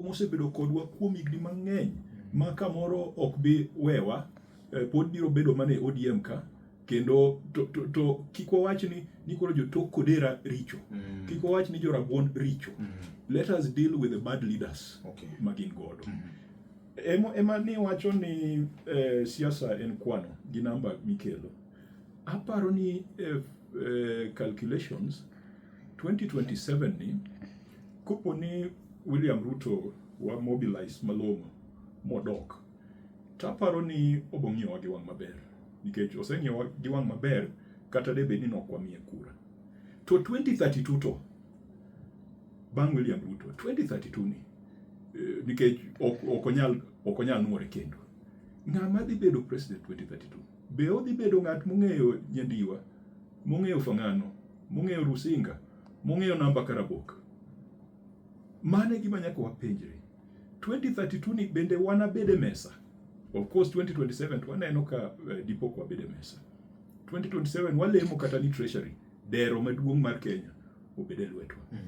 mosebedo kodwa kuom higni mang'eny ma kamoro ok bi wewa eh, pod biro bedo mana e ODM ka kendo to, to, to kik wawach ni ni koro jotok kodera richo mm. kik wawach ni jorabuon richo mm. let us deal with the bad leaders okay. ma gin godo mm. ema, ema ni wacho ni eh, siasa en kwano gi namba mikelo aparo ni eh, eh, calculations 2027 ni Kopo ni William Ruto wa mobilize malong'o modok, to aparo ni obo ng'iyowa gi wang' maber nikech oseng'iyowa gi wang' maber kata de bed ni nok wamiye kura. To 2032 to bang' William Ruto 2032 ni eh, nikech ok onyal ok onyal nuore kendo. Ng'ama dhi bedo president 2032? Be odhi bedo ng'at mong'eyo Nyandiwa, mong'eyo Fang'ano, mong'eyo Rusinga? mong'eyo namba kar abok. Mano e gima nyaka wapenjre. 2032 ni bende wanabed e mesa? Of course 2027 to waneno ka uh, eh, dipo kwa bed e mesa. 2027 walemo kata ni treasury dero maduong' mar Kenya obed e lwetwa. Mm.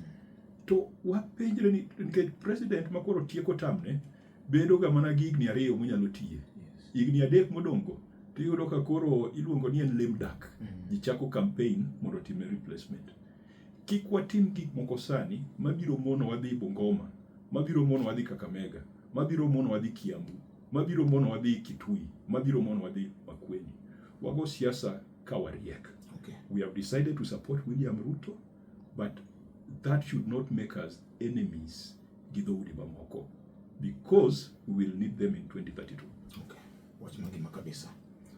To wapenjre ni nikech president makoro tieko tamne bedoga mana gi higni ariyo monyalo tiye. Higni adek modong'go to iyudo ka koro iluongo ni en lame duck. Mm. Ji chako campaign mondo otimne replacement. Kik watim gik moko sani mabiro mono wadhi Bungoma, mabiro mono wadhi Kakamega, mabiro mono wadhi Kiambu, mabiro mono wadhi Kitui, mabiro mono wadhi Makueni. Wago siasa ka wariek. Okay. We have decided to support William Ruto but that should not make us enemies gi dhoudi mamoko because we will need them in 2032 okay. wach mangima kabisa